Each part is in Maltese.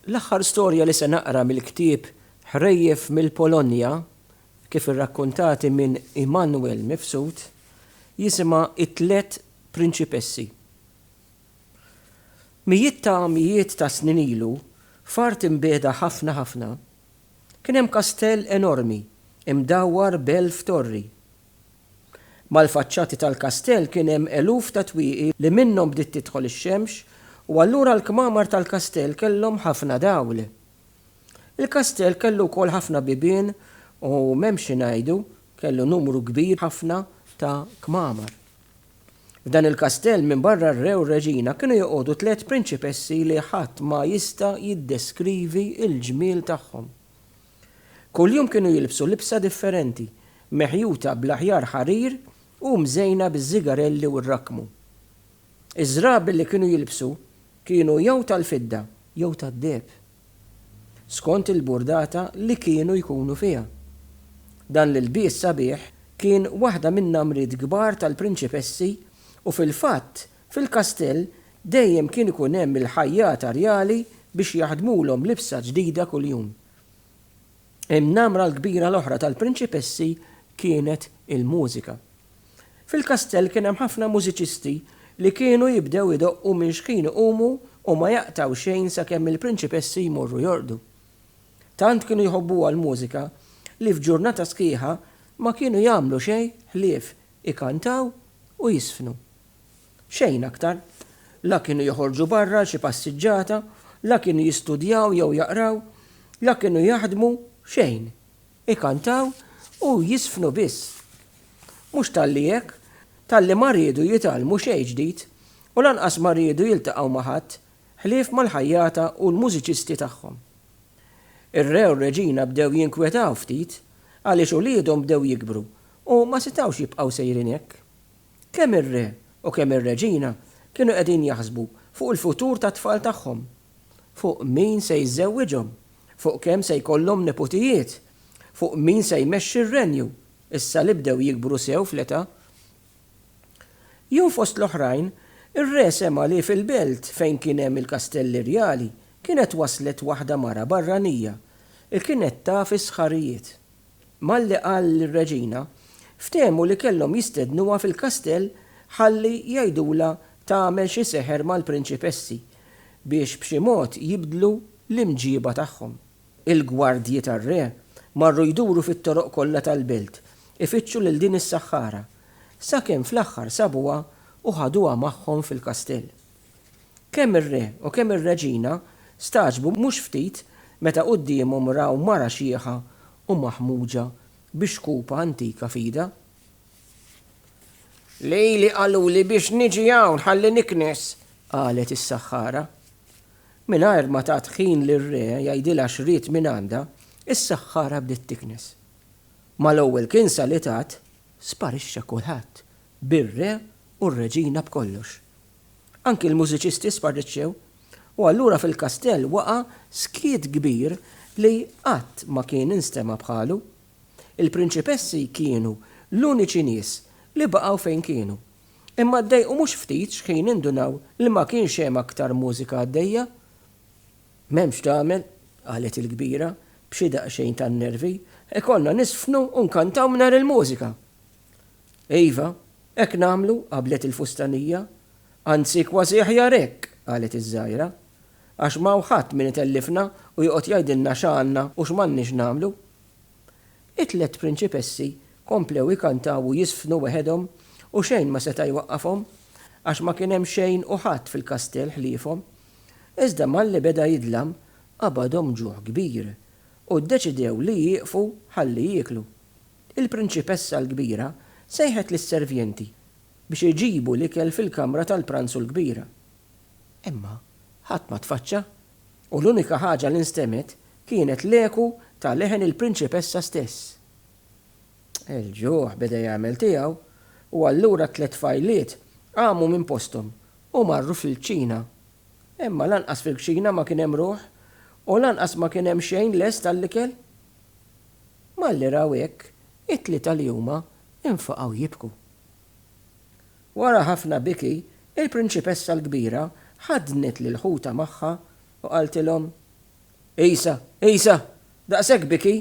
L-aħħar storja li se naqra mill-ktieb Ħrejjef mill-Polonja, kif irrakkuntati minn Immanuel Mifsud, jisimha It-Tliet Prinċipessi. Mijiet ta' mijiet ta' snin ilu, f'art imbiegħda ħafna ħafna, kien hemm kastell enormi, imdawwar b'elf torri. Mal-faċċati tal-kastell kien hemm eluf ta' twieqi li minnhom bdiet tidħol ix-xemx u allura l-kmamar tal-kastell kellhom ħafna dawl. Il-kastell kellu wkoll ħafna bibien u m'hemm xi ngħidu, kellu numru kbir ħafna ta' kmamar. F'dan il-kastell minbarra r-re u r-reġina kienu joqogħdu tliet prinċipessi li ħadd ma jista' jiddeskrivi l-ġmiel tagħhom. Kuljum kienu jilbsu libsa differenti, meħjuta bl-aħjar ħarir u mżejna biż-żigarelli u r-rakkmu. Iż-żrabi li kienu jilbsu kienu jew tal-fidda jew tad-deheb, skont il-burdata li kienu jkunu fiha. Dan l-ilbies sabiħ kien waħda min-namriet kbar tal-prinċipessi u fil-fatt Fil-kastell dejjem kien ikun hemm il-ħajjata rjali biex jaħdmulhom libsa ġdida kuljum. In-namra l-kbira l-oħra tal-prinċipessi kienet il-mużika. Fil-kastell kien hemm ħafna mużiċisti li kienu jibdew idoqqu minn xħin iqumu u ma jaqtgħu xejn sakemm il-prinċipessi jmorru jorqdu. Tant kienu jħobbuha l-mużika li f'ġurnata sħiħa ma kienu jagħmlu xejn ħlief ikantaw u jiżfnu. Xejn aktar. La kienu joħorġu barra għal xi passiġġata, la kienu jistudjaw jew jaqraw, la kienu jaħdmu, xejn. Ikantaw u jiżfnu biss. Mhux talli hekk, talli ma riedu jitgħallmu xejn ġdid u lanqas ma riedu jiltaqgħu ma' ħadd ħlief mal-ħajjata u l-mużiċisti tagħhom. Ir-re u r-reġina bdew jinkwetaw ftit għaliex uliedhom bdew jikbru u ma setgħux jibqgħu sejrin hekk. Kemm ir-re u kemm ir-reġina kienu qegħdin jaħsbu fuq il-futur tat-tfal tagħhom, fuq min se jiżżewwiġhom, fuq kemm se jkollhom neputijiet, fuq min se jmexxi r-renju, issa li bdew jikbru sew fl-età. Jew fost l-oħrajn, ir-re sema' li fil-belt fejn kien hemm il-kastelli rjali kienet waslet waħda mara barranija, li kienet taf is-sħarijiet. Malli qal lir-reġina, ftehmu li kellhom jistednuha fil-kastell ħalli jgħidulha tagħmel xi seħer mal-prinċipessi biex b'xi mod jibdlu l-imġieba tagħhom. Il-gwardji tar-re marru jduru fit-toroq kollha tal-belt ifittxu lil din is-saħħara, sakemm fl-aħħar sabuha u ħaduha magħhom fil-kastell. Kemm ir-re u kemm ir-reġina stagħġbu mhux ftit meta quddiemhom raw mara xiħa u maħmuġa bi xkupa antika f'idha. Lili qaluli biex niġi hawn ħalli niknes, qalet is-saħħara. Mingħajr ma tat ħin lir-re jgħidilha x'ried mingħandha, is-saħħara bdiet tiknes. Mal-ewwel kinsa li tat, sparixxa kulħadd, bir-re u r-reġina b'kollox. Anki l-mużiċisti sparriċċew, u allura fil-kastell waqa' skiet kbir li qatt ma kien instema' bħalu. Il-prinċipessi kienu l-uniċi nies li baqgħu fejn kienu, imma ddejqu mhux ftit x'ħin indunaw li ma kienx hemm aktar mużika għaddejja. M'hemmx x'tagħmel, qalet il-kbira, b'xi daqsxejn ta' nervi, ikollna niżfnu u nkantaw mingħajr il-mużika! Iva, hekk nagħmlu, qablet il-fustanija. Anzi, kważi aħjar hekk, qalet iż-żgħira. Għax m'hawn ħadd min itellifna u joqgħod jgħidilna x'għandna u x'm'għandniex nagħmlu. It-tliet prinċipessi komplew ikantaw u jiżfnu weħedhom u xejn ma seta' jwaqqafhom, għax ma kien hemm xejn u ħadd fil-kastell ħliefhom. Iżda malli beda jidlam, qabadhom ġuħ kbir u ddeċidew li jieqfu ħalli jieklu. Il-prinċipessa l-kbira sejħet lis-servjenti biex iġibu l-ikel fil-kamra tal-pranzu l-kbira. Imma ħadd ma tfaċċa, u l-unika ħaġa li nstemet kienet l-eku ta' leħen il-prinċipessa stess. Il-ġuħ beda jagħmel tiegħu, u allura t-tliet tfajliet qamu minn posthom u marru fil-kċina. Imma lanqas fil-kċina ma kien hemm ruħ, u lanqas ma kien hemm xejn lest għall-ikel. Malli raw hekk, it-tlieta li huma infaqgħu jibku. Wara ħafna biki, il-prinċipessa l-kbira ħaddnet lil ħutha magħha u qaltilhom, Isa, isa! Daqshekk biki?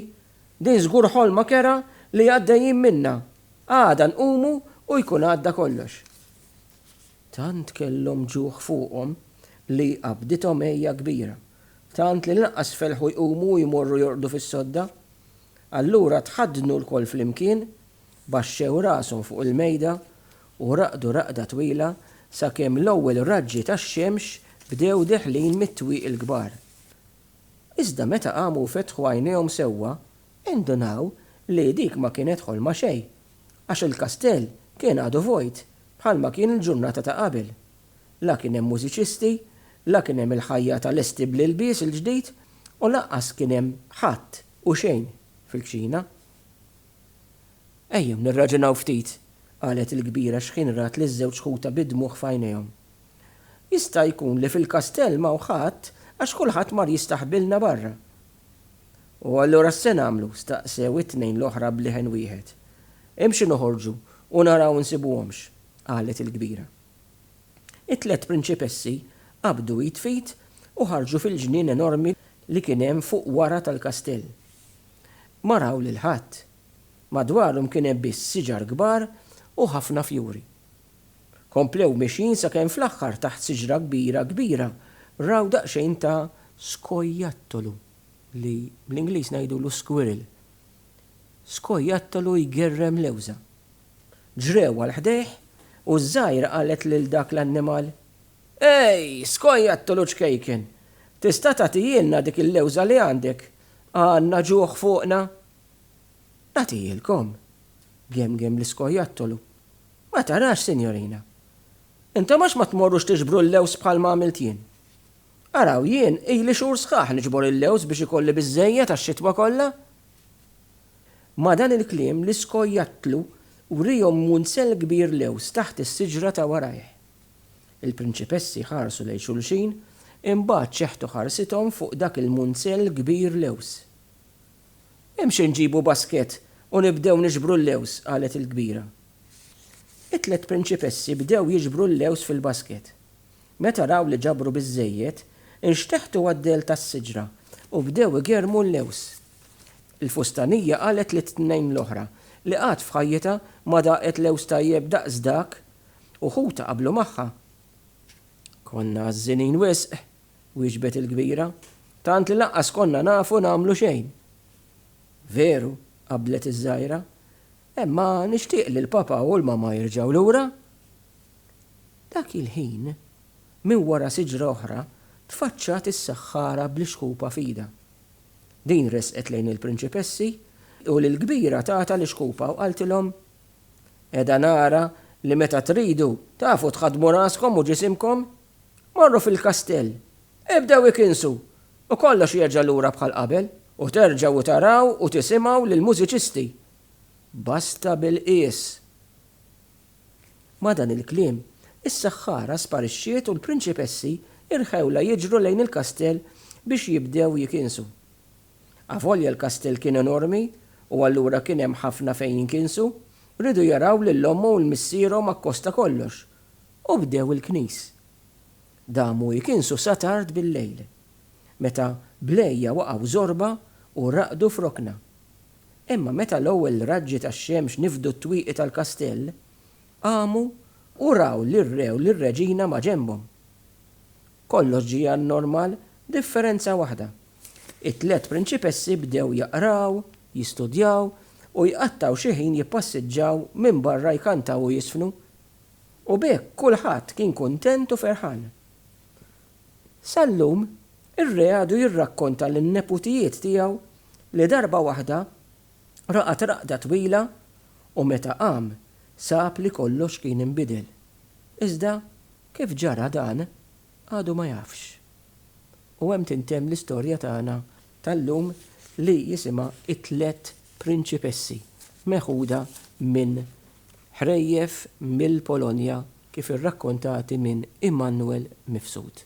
Din żgur ħolma kerha li għaddejjin minnha. Għada nqumu u jkun għadda kollox. Tant kellhom ġuħ fuqhom li qabdithom għeja kbira tant li lanqas felħu jqumu u jmorru jorqdu fis-sodda. Allura tħaddnu lkoll flimkien, baxxew rashom fuq il-mejda u raqdu raqda twila sakemm l-ewwel raġġi tax-xemx bdew deħlin mit-twieqi l-kbar. Iżda meta qamu u fetħu għajnejhom sewwa, indunaw li dik ma kienet ħolma xejn, għax il-kastell kien għadu vojt bħalma kien il-ġurnata ta' qabel. La kien hemm mużiċisti, la kien hemm il-ħajja ta' lesti bl-ilbies il-ġdid u lanqas kien hemm ħadd u xejn fil-kċina. Ejjew nirraġunaw ftit, qalet il-kbira xħinrat liż-żewġ ħutha bid-dmugħ f'għajnejhom. Jista' jkun li fil-kastell m'hawn ħadd għax kulħadd mar jistaħbilna barra. U allura x'se nagħmlu? staqsew it-tnejn l-oħra b'leħen wieħed. Imxu noħorġu u naraw insibuhomx, qalet il-kbira. It-tliet prinċipessi qabdu id f'id u ħarġu fil-ġnien enormi li kien hemm fuq wara tal-kastell. Ma raw lil ħadd. Madwarhom kien hemm biss siġar kbar u ħafna fjuri. Komplew mexjin sakemm fl-aħħar taħt siġra kbira kbira raw daqsxejn ta' skojattolu li bl-Ingliż ngħidulu squirrel. Skojattolu jgerrem lewża. Ġrew għal ħdejh u ż-żgħira qalet lil dak l-annimal, Ej, skojjattolu ċkejken! Tista' tagħtihielna dik il-lewża li għandek? Għandna ġuħ fuqna! Nagħtihielkom, gemgem l-iskojjattolu. Ma tarax, sinjorina. Intom għax ma tmorrux tiġbru l-lewż bħal ma għamilt jien? Araw jien ili xhur sħaħ niġbor il-lewż biex ikolli biżżejjed għax-xitwa kollha. Ma' dan il-kliem l-iskojjattlu wriehom munsell kbir lewż taħt is-siġra ta' warajh. Il-prinċipessi ħarsu lejn xulxin, imbagħad ċeħtu ħarsithom fuq dak il-munsell kbir lewż. Imxi nġibu baskett u nibdew niġbru l-lewż, qalet il-kbira. It-tliet prinċipessi bdew jiġbru l-lewż fil-baskett. Meta raw li ġabru biżżejjed, inxteħtu għad-dell tas-siġra u bdew igerrmu l-lewż. Il-fustanija qalet lit-tnejn l-oħra li qatt f'ħajjitha ma daqet lewż tajjeb daqs dak u ħutha qablu magħha. Konna għażżinin wisq, wieġbet il-kbira, tant li lanqas konna nafu nagħmlu xejn. Veru, qablet iż-żgħira, imma nixtieq li l-papa u l-mama jerġgħu lura. Dak il-ħin, minn wara siġra oħra tfaċċat is-saħħara bl-ixħupa f'idha. Din resqet lejn il-prinċipessi, u lill-kbira tatha l-ixkupa u qaltilhom, Qiegħda nara li meta tridu, tafu tħaddmu raskom u ġisimkom. Morru fil-kastell, ibdew ikinsu, u kollox jerġa' lura bħal qabel, u terġgħu taraw u tisimgħu lill-mużiċisti. Basta bil-qies! Ma' dan il-kliem, is-saħħara sparixxiet u l-prinċipessi rħewlha jiġru lejn il-kastell biex jibdew jikinsu. Avolja l-kastell kien enormi u allura kien hemm ħafna fejn jinkinsu, riedu jaraw lil ommu u 'l missierhom akkosta kollox u bdew il-knis. Damu jikinsu sa tard bil-lejl, meta blejja waqgħu żorba u raqdu f'rokna. Imma meta l-ewwel raġġi tax-xemx nifdu t-twieqi tal-kastell, qamu u raw lir-re u lir-reġina maġenbhom. Kollox ġie għan-normal b'differenza waħda, it-tliet prinċipessi bdew jaqraw, jistudjaw u jqattgħu xi ħin jippassiġġaw minn barra jkantaw u jiżfnu. U b'hekk kulħadd kien kuntent u ferħan. Sal-lum, ir-re għadu jirrakkonta lin-neputijiet tiegħu li darba waħda raqad raqda twila u meta qam sab li kollox kien inbidel. Iżda kif ġara dan għadu ma jafx. U hemm tintemm l-istorja tagħna tal-lum li jisimha It-Tliet Prinċipessi meħuda minn ħrejjef mill-Polonja kif irrakkontati minn Immanuel Mifsud.